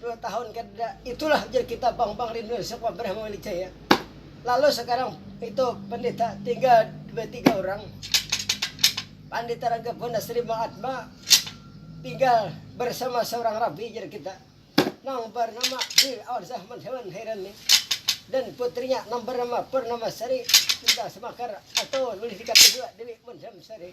dua tahun kada itulah jar kita bang bang rindu sek wabrah mawali jaya lalu sekarang itu pendeta tinggal dua tiga orang pandita raga pun asri bang atma tinggal bersama seorang rabi jar kita nang bernama di awal zaman hewan heran ni dan putrinya nang bernama pernama sari tinggal semakar atau boleh dikatakan juga dewi mendam sari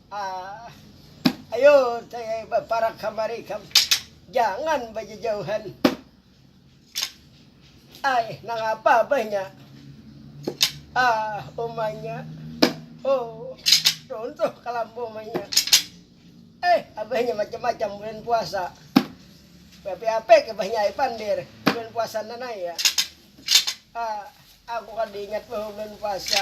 Ayo saya baparak kamari kam, jangan bajajauhan. Ai, nangapa bah nya? Ah, umanya. Oh, runtuh kalambu umanya. Eh, abahnya macam-macam bulan puasa. Bapi-ape ke bahnya ai pandir, bulan puasa nanai ya. Ah, aku kada ingat bah bulan puasa.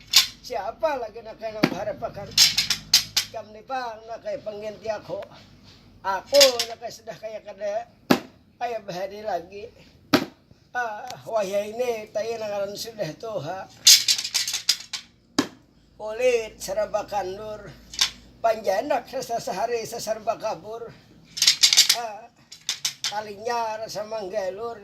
Siapa lagi nak kena baharapakan jam ni bang nak kaya pengganti aku. Aku nak kaya sudah kaya kada kaya bahari lagi. Ah, waya ini tayo nangaran sudah tuha. Kulit serba kandur. Panjanak rasa sehari seserba kabur. Ah, talinya rasa manggalur.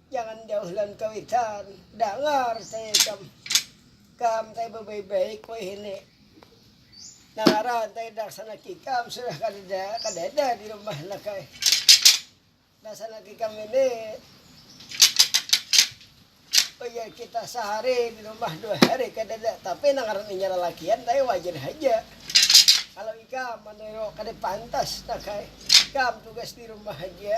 Jangan jauh lawan kawitan. Dangar saya ikam. Kam tadi babaik-baik wahini. Nangaran tadi daksanak ikam sudah kadada kadada di rumah nak ai. Daksanak ikam ini ujar kita sahari di rumah dua hari kadada tapi nangaran inya lalakian tadi wajar haja. Kalau ikam meniru kada pantas nak ai. Kam tugas di rumah haja.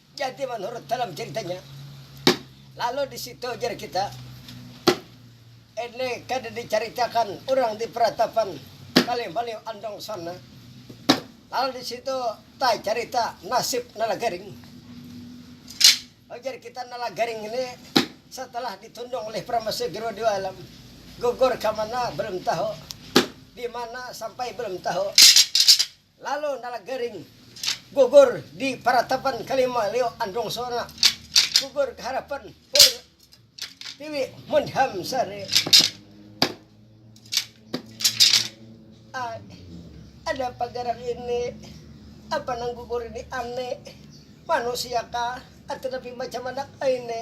Jadi manurut dalam ceritanya, lalu di situ jar kita, ini kada dicaritakan urang di peratapan Malih Malih Andong sana, lalu di situ tacarita nasib Nalagaring, ujar kita Nalagaring ini setelah ditundung oleh Pramasih Guru Dewa Alam, gugur ka mana belum tahu, di mana sampai belum tahu. Lalu nala garing gugur di paratapan kalima lio andung sona gugur ka harapan pur tiwi mun ham sare ai ada pagaran ini apa nang gugur ini ane manusia kah atanapi macam mana ai ne.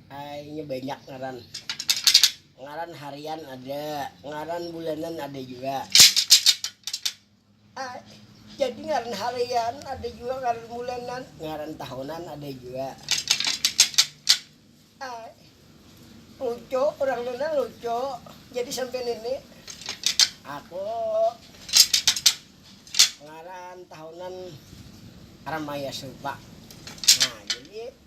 Inya banyak ngaran. Ngaran harian ada, ngaran bulanan ada jua. Jadi ngaran harian ada jua, ngaran bulanan, ngaran tahunan ada jua. Lucu, urang Nuna lucu. Jadi sampai nini, aku ngaran tahunan Ramayasuba. Nah, jadi.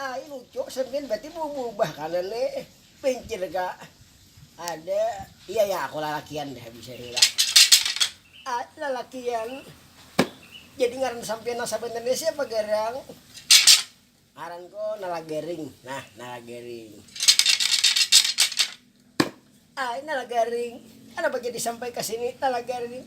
Ai lucu cermin berarti beubah kanan ne pincir ga ada iya ya aku lalakian dah bisa ni lah ai lalakian jadi ngaran sampian nang sabanarnya siapa garang ngaranku nalagaring nah nalagaring ai nalagaring kenapa jadi sampai kesini nalagaring.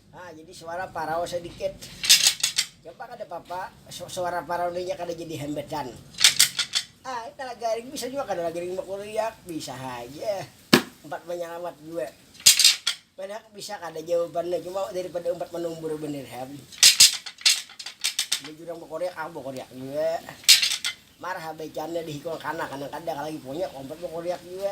Nah jadi suara parau sadikit coba kada papa suara parau nih nya kada jadi hambatan ai talaga ring bisa jua kada lagi ring bakuriak bisa haja umpat manyalamat jua mana bisa kada jawabannya cuma dari pada umpat manumbur banar ham baju urang bakuriak aku bakuriak jua marha bacannya dihikung kanak nang kada lagi punya umpat bakuriak jua.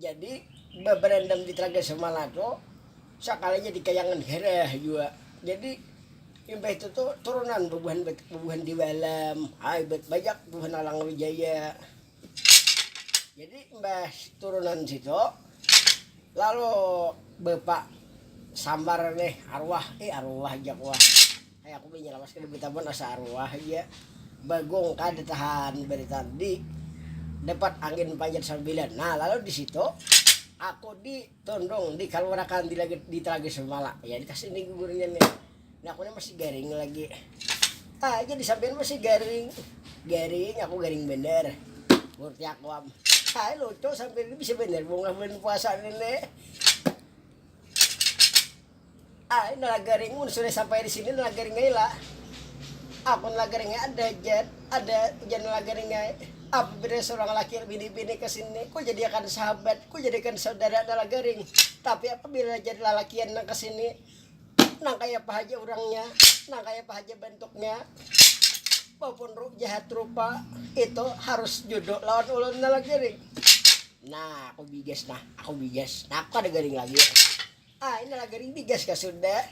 Jadi, babarandam di Telaga Semala tu sakali jadi kayangan hereh jua. Jadi, imbah itu tu turunan bubuhan bubuhan di Walam, ai ba bajak bubuhan Alang Wijaya. Jadi, imbah turunan situ lalu bapak sambar nih arwah, ih arwah jak wah. Aku bini lawas kada bitamun asa aruah ja bagong kada tahan baritan di dapat angin panjat sambilan nah lalu di situ aku di tundung di kaluarakan di lagi di talagi sumala ya di kasi ni gugurnya ni nah aku ni masih garing lagi ah jadi sambian masih garing garing aku garing banar murti aku am ah lucu sambian ni bisa banar bungas bulan puasa ni ni. Ai nalagari mun sudah sampai di sini nalagari ngai la aku nalagari ngai ada jet ada ujar nalagari ngai apa bedanya seorang laki bini bini ke sini ku jadiakan sahabat ku jadiakan saudara nalagaring tapi apabila jadi lalakian nang ke sini nang kaya apa haja urangnya nang kaya apa haja bentuknya maupun ru, jahat rupa itu harus jodoh lawan ulun nalagaring nah aku bigas nah aku bigas nah aku kada garing lagi Ah ini lah garing bigas kah sudah.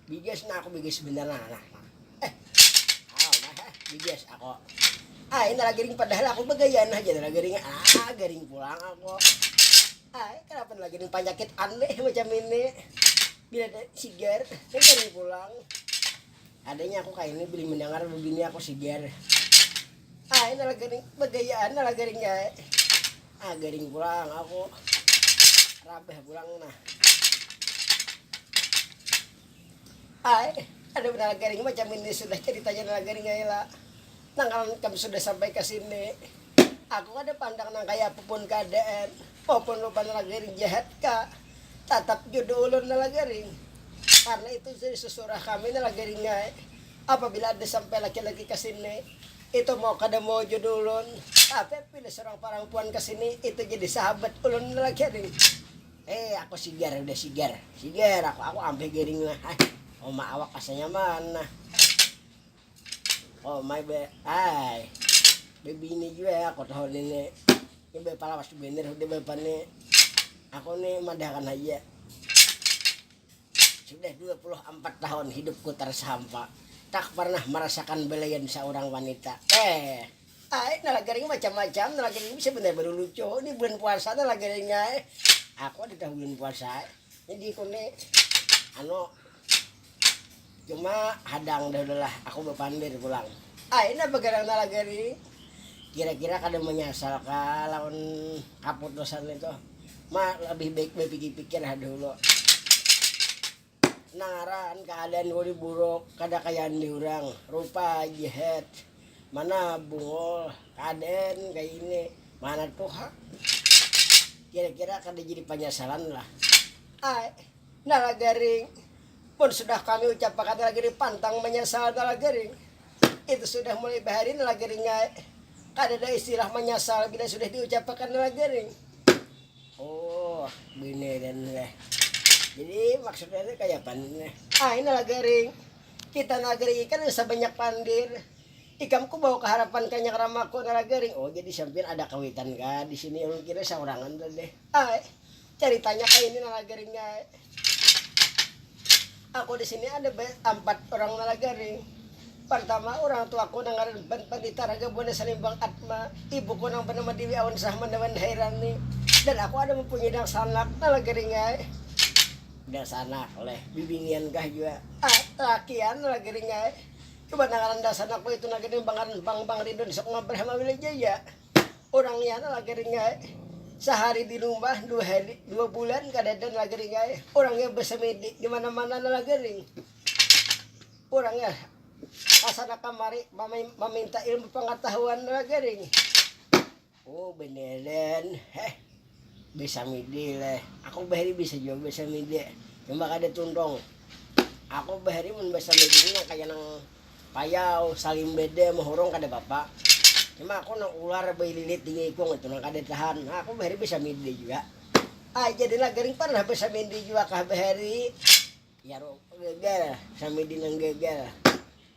Bigas nah aku bigas benar nah nah. nah. Eh. Ah nah eh, bigas aku. Ah ini lah garing padahal aku begaya nah jadi lah garing. Ah garing pulang aku. Ah eh, kenapa lagi garing penyakit aneh macam ini. Bila ada sigar, garing pulang. Adanya aku kaini bini mandangar babini aku sigar. Ai nala garing bagayaan nala garing ya ai. Ah garing pulang aku. Rabah pulang nah. Ai ada nala garing macam ini sudah ceritanya nala garing ai la. Nang kanan kam sudah sampai ka sini. Aku kada pandang nang kaya apapun keadaan. Walaupun rupa nala garing jahat ka. Tatap judu ulun nala garing. Karna itu jadi susurah kami nala garingai. Apabila ada sampai laki-laki ka sini, itu mau kada mau judu ulun. Tapi apabila surang parampuan ka sini, itu jadi sahabat ulun nala garing. Hei aku sigar udah sigar. Sigar aku, aku ampih garing nah. Hai, uma awak asa nyaman nah. Oh my be, ay, bebini jua ya aku tahu ini nih. Ini bepala pasti bener sudah bapak nih. Aku nih madahkan aja. Sudah 24 tahun hidupku tersampa. Tak pernah merasakan belayan seorang wanita. Eh, ay, nala garing macam-macam, nala garing bisa bener baru lucu. Ini bulan puasa nala garing ay. Aku ada tahu bulan puasa ay. Jadi aku nih, anu, Cuma hadang dah udah lah aku bapandir pulang. Ai nah bagadang talaga ri, kira-kira kada manyasal kah lawan kaputusan nih tuh. Ma labih baik bapikir-pikir ha dahulu. Nang ngaran kaadaan ku nih buruk, kada kaya andi urang. Rupa aja het. Mana Bungul kaadaan kaya ini, mana tuhak. Kira-kira kada jadi panyasalan lah. Ai. Nalagaring, mun sudah kami ucapakan nalagaring pantang manyasal nalagaring, itu sudah mulai bahari nalagaring ai, kadada istilah manyasal bila sudah diucapakan nalagaring. Oh, bini nih nih. Jadi maksudnya nih kayak apa nih? Ai nalagaring, kita nalagaring ikan bisa banyak pandir. Ikam ku bawa kaharapan kanyang ramaku nalagaring. Oh jadi sampian ada kawitan kah di sini ulun kira saurangan tadi. Ai. Ceritanya kayak ini nalagaring ya. Aku di sini ada empat orang nalagaring. Pertama orang tuaku nang ngaran Ban Pandita Raga Buana Salimbang Atma, ibuku nang bernama Dewi Awan Rahman Dewan Hairani, dan aku ada mempunyai dangsanak nalagaring ya. Dangsanak leh, bibinian kah jua? Ah, lakian nalagaring ya. Cuman nang ngaran dangsanakku itu nalagaring bangaran Bang Bang Ridwan Sukma Brahma Wilajaya. Urang ya lah gering ai. Sahari di rumah dua hari, dua bulan kadada lah gering ai. Urang ya besemedi di mana-mana lah gering. Urang ya kasana kamari maminta ilmu pangatahuan lah gering. Oh beneran. Heh. Besamidi leh, aku bahari bisa jua besamidi, cuma kada tuntung. Aku bahari mun besamidi ni nang kaya nang payau, salimbada, mahurung kada papa. Cuma aku nang ular baililit di ngikung itu nang kada tahan. Nah aku bahari besamidi jua. Ai jadi lah gering pernah besamidi jua kah bahari? Jar geger, samidi nang geger.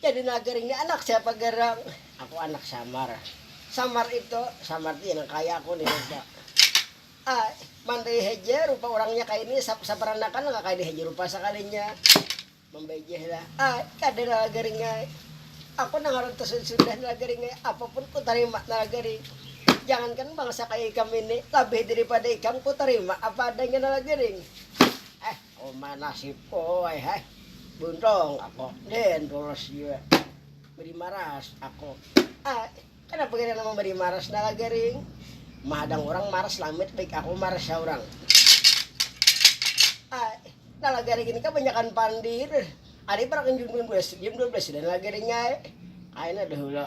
Jadi nager ini anak siapa gerang? Aku anak samar. Samar itu, samar itu yang kaya aku nih rupa. Ah, mandai haja rupa orangnya kaya ini, saparanakan nggak kaya ini haja rupa sakalinya. Membejeh lah. Ah, kada nala garing ai. Aku nang harun tersudut sudah nala garing ai, apapun ku tarima nala garing. Jangankan bangsa kaya ikam ini, labih daripada ikam ku tarima apa adanya nala garing. Eh, Uma nasib ko ai hai. Buntung ako den tulus jua beri maras ako ai. Kada pikiran nama beri maras nala garing. Mahadang urang maras lamit baik ako maras saurang ai. Nala garing ini kabanyakan pandir. Ada ibarat kan jam dua belas jam dua belas sudah nala garing ai. Kaina dahulu.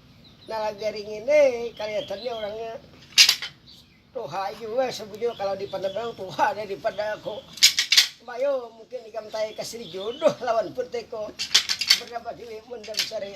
Nalagari ngini kaliatannya orangnya tuha jua sebujurnya kalau dipandang orang tuha dah daripada aku. Bayu mungkin ikam tanya ka Sri Jodoh lawan Putiko berapa diwi mun jam sehari.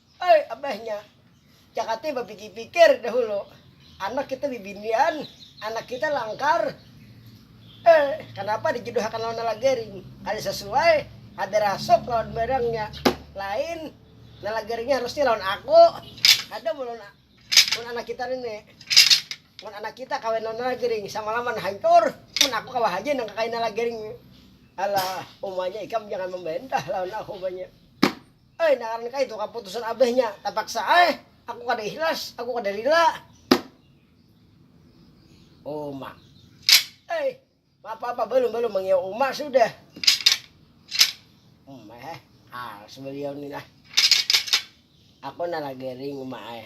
Ai abahnya, Jakati bapikir-pikir dahulu, anak kita bibinian, anak kita langkar, eh kanapa dijuduhakan lawan Nalagaring, kada sasuai, kada rasuk lawan barangnya, lain Nalagaringnya harusnya lawan aku, kada mun lawan anak kita nini, mun anak kita kawin lawan Nalagaring samalaman hancur, mun aku kawa haja nang kakain Nalagaring, alah umanya ikam jangan mambantah lawan aku umanya. Ai naaran kaitu kaputusan abahnya, tapaksa ai, aku kada ihlas, aku kada rila. Uma. Ai, maapa-apa balum balum mangiau uma sudah. Uma eh, alas baliau ni nah. Aku nalagaring uma ai.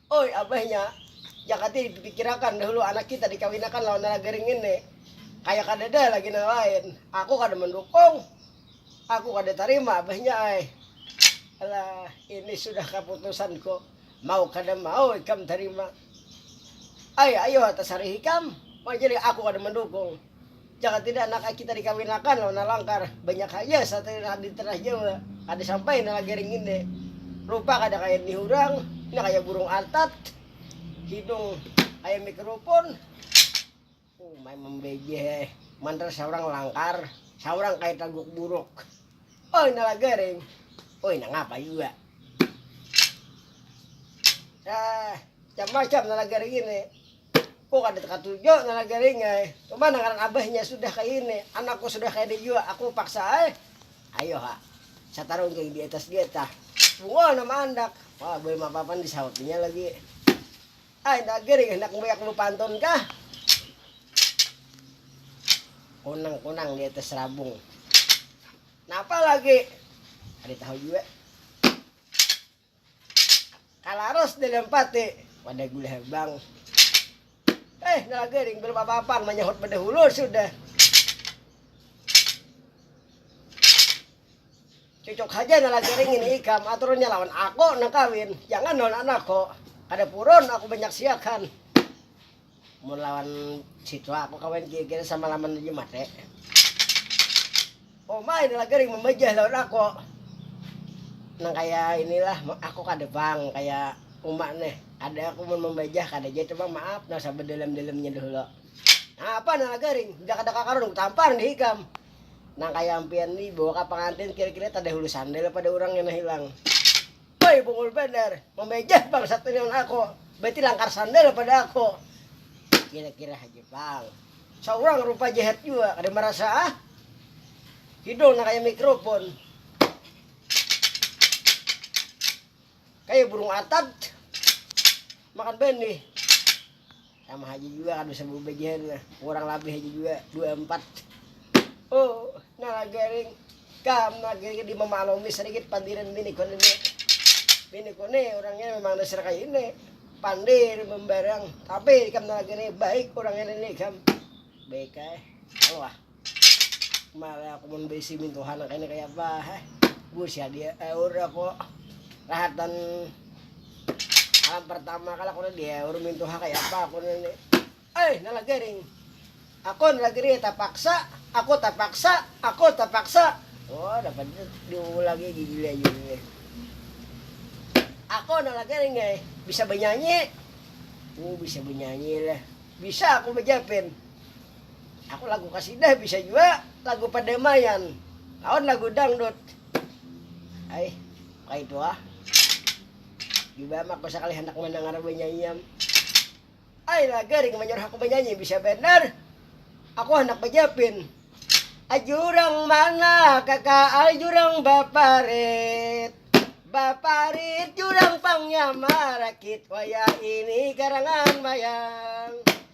Oi abahnya, jakati dipikirakan dahulu anak kita dikawinakan lawan lala garing ngini. Kaya kadada lagi nang lain. Aku kada mandukung. Aku kada tarima abahnya ai. Alah, ini sudah kaputusanku. Mau kada mau ikam tarima ai. Ayoha tasarih ikam. Mangkini aku kada mandukung. Jaka tidak anak ai kita dikawinakan lawan Alangkar, banyak haja satria nang ada di tanah Jawa, kada sampai nang lagi ringinde. Rupa kada kaya nihurang, pina kaya burung artat, hidung kaya mikrofon. Umai mambejeh ai, mantar saurang langkar, saurang kaya taguk buruk. Oi nang lagi ring, oi nang apa jua. Sa, macam-macam nang lagi ringinde. Ko kada katuju ngaran garing ai, coba nang ngaran abahnya sudah kaya ini, anak ko sudah kaya ini jua, aku paksa ai, ayo ha, satarungking di atas getah, Ungol nama andak, wah buai mapapan di sahut inya lagi, ai inda garing handak mbuyak lu pantun kah, kunang kunang di atas rabung, napa lagi, kada tahu jua. Kalaras di lempati wadah gula habang. Eh, nala garing belum apa-apa manyahut bedahulu sudah. Cucuk haja nala garing ini ikam aturnya lawan aku nak kawin. Jangan lawan anakku. Kada purun aku banyaksiakan. Mun lawan siswa aku kawan kira-kira sama laman aja mate. Oh ma ini lagi ring membajah lawan aku. Nang kaya inilah aku kada pang kaya uma nih. Kada aku mun membajah kada ja itu ma maaf nang sabedalam-dalamnya dahulu. Nang apa nang lagi ring sudah kada kakaruan ku tampar nih ikam. Nang kaya ampian nih bawa ka pangantin kira-kira tadahulu sandal pada urang kena hilang. Pai bungul banar, mamajah pang satu ni wan aku, berarti langkar sandal pada aku. Kira-kira haja pang. Saurang rupa jahat jua, kada marasa ah. Hidung nang kaya mikrofon. Kaya burung atad makan banih. Sama haja juga kada usah babajahan lah. Kurang labih haja juga dua empat. Oh, nah garing kam nah garing di mamaklumi sedikit pandiran bini kone ini. Bini kone orangnya memang dasar kayak ini. Pandir membarang, tapi kam nah garing baik orangnya ini kam. Baik eh. Allah. Mari aku mun baisi mintuhan kayaknya kayak apa heh busi dia eh udah aku rahatan alam pertama kala aku dia udah mintuhan kayak apa aku ini eh nala gering aku nala gering terpaksa aku terpaksa aku terpaksa oh dapat diulang lagi gigi aja ini aku nala gering ya bisa bernyanyi oh bisa bernyanyi lah bisa aku bejapin Aku lagu kasidah bisa jua lagu padamaian lawan lagu dangdut. Ai, kaitu ah. Jubam aku sakali handak mandangar banyanyiam. Ai lah garing manyuruh aku banyanyi bisa banar. Aku handak bajapin. Ajurang mana kaka ajurang baparit Baparit jurang pang nyamarakit Wayah ini karangan mayang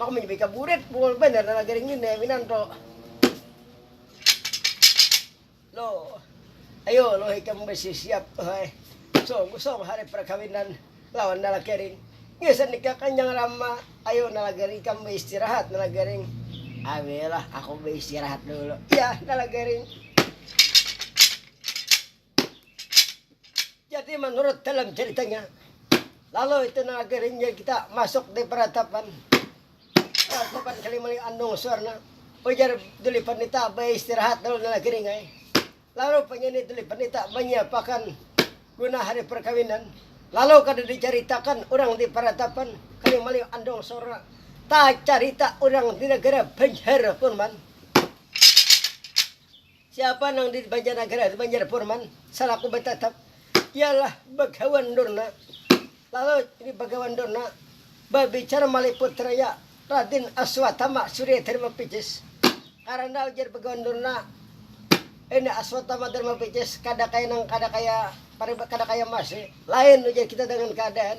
Mak menyebik ka burit, bungul bener nang lagi ringin ya minan to. Lo, ayo lo ikam besi siap to hai. Song kusong hari perkawinan lawan nang lagi ring. Ngisan nikah kanjang rama, ayo nang lagi ring ikam beistirahat nang lagi ring. Awe lah aku beistirahat dulu, ya nang lagi ring. Jadi menurut dalam ceritanya, lalu itu nang akhirnya kita masuk di peratapan. Peratapan Kalimali Andung Suwarna. Ujar Duli Pandita beristirahat dulu nang akhirnya. Lalu penyanyi Duli Pandita menyiapakan guna hari perkawinan. Lalu kada diceritakan orang di peratapan Kalimali Andung Suwarna. Tak cerita orang di negara Banjar pun man. Siapa nang di Banjarnagara tu Banjar Purman salaku batatap ialah Bagawan Durna. Lalu ini Bagawan Durna babicara malih putranya Radin Aswatama Surya Dharma Picis. Karana ujar Bagawan Durna, ini Aswatama Dharma Picis kada kaya nang kada kaya kada kaya emas ni. Lain ujar kita dengan keadaan.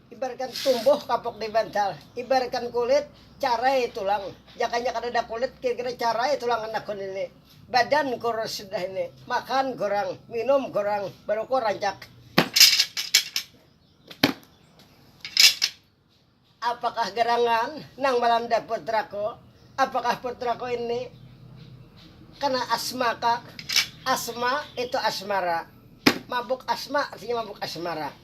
Ibaratkan tumbuh kapuk di bantal, ibaratkan kulit carai tulang, jakanya kadada kulit kira-kira carai tulang anakku nini, badan kurus sudah ini, makan kurang, minum kurang, baruku rancak. Apakah gerangan nang malanda putraku, apakah putraku ini kena asmakah, asma itu asmara, mabuk asma artinya mabuk asmara.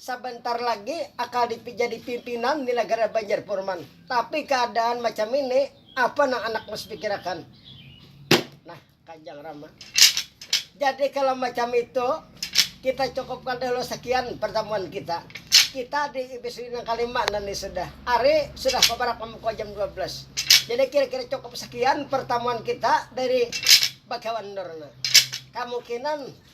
Sabantar lagi akal dipi jadi pimpinan di nagara Banjar Purman. Tapi kaadaan macam ini apa nang anak mas pikirakan. Nah, Kanjang Rama. Jadi kalau macam itu kita cukupkan dahulu sekian pertemuan kita. Kita di episode yang kelima dan ini sudah. Hari sudah kebarak membuka jam 12. Jadi kira-kira cukup sekian pertemuan kita dari Bagawan Dorna. Kemungkinan